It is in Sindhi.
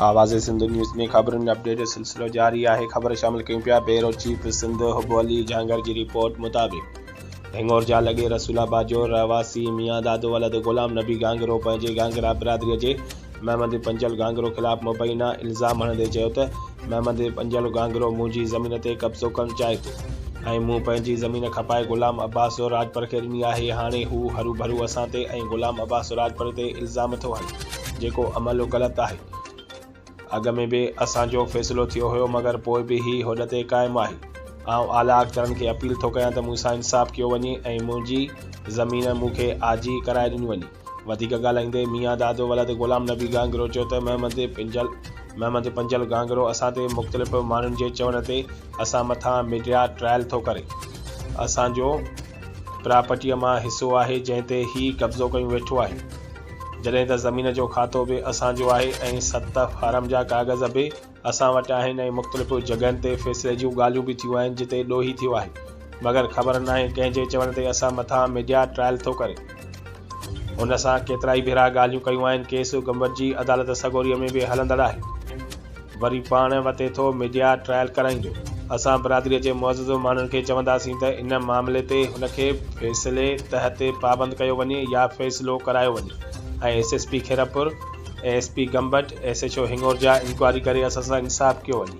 آواز سنڌ نيوز ۾ خبرن ۽ اپڊيٽ جو سلسلو جاري آهي خبر شامل ڪيون پيا بيورو چيف سنڌ حب علي جهانگير جي رپورٽ مطابق هڱور جا لڳي رسول آباد جو رهواسي ميان دادو ولد غلام نبي گانگرو پنهنجي گانگرا برادري جي محمد پنجل گانگرو خلاف مبينا الزام هڻندي چيو ته محمد بنجل گانگرو منهنجي زمين تي قبضو ڪرڻ چاهي ٿو ۽ مون پنهنجي زمين کپائي غلام عباس زوراجپر کي ڏني آهي هاڻي هو هروڀرو اسان تي ۽ غلام عباس زوراجپر تي الزام ٿو هڻي جيڪو عمل غلط آهي اڳ ۾ به اسان جو فيصلو ٿيو هيو مگر پوء به هي هوڏ تي قائم آهي آئون اعليٰ اختيارن کي اپيل ٿو ڪيان ته مون سان انصاف ڪيو وڃي ۽ منهنجي زمين مون کي آجي ڪرائي ڏني وڃي. وڌيڪ ڳالهائيندي ميان دادو ولد غلام نبي گانگرو چيو ته محمد پنجل محمد پنجل گانگرو اسان تي مختلف ماڻهن جي چوڻ تي اسان مٿان ميڊيا ٽرائل ٿو ڪري اسان جو پراپرٽيء مان حصو آهي جنهن تي هي قبضو ڪيون ويٺو آهي جڏهن ته زمين جو کاتو به اسان جو آهي ۽ ست فارم جا ڪاغذ به اسان وٽ آهن ۽ مختلف جڳهن تي فيصلي جون ڳالهيون به ٿيون آهن جتي ڏوهي ٿيو آهي مگر خبر ناهي ڪنهن جي چوڻ تي اسان مٿان ميڊيا ٽرائل ٿو ڪري هن سان ڪيترائي ڀيرا ڳالهيون ڪيون آهن ڪيس گمبٽجي عدالت سڳوريء ۾ به هلندڙ آهي وري پاڻ وتي ٿو ميڊيا ٽرائل ڪرائيندو اسان برادري جي معزز ماڻهن کي چونداسين ته ان معاملي تي هن کي فيصلي تحت پابند ڪيو وڃي يا فيصلو ڪرايو وڃي ۽ S S P Khairpur A S P Gambat S H O Hingorja inquiry ڪري اسان سان انصاف ڪيو وڃي.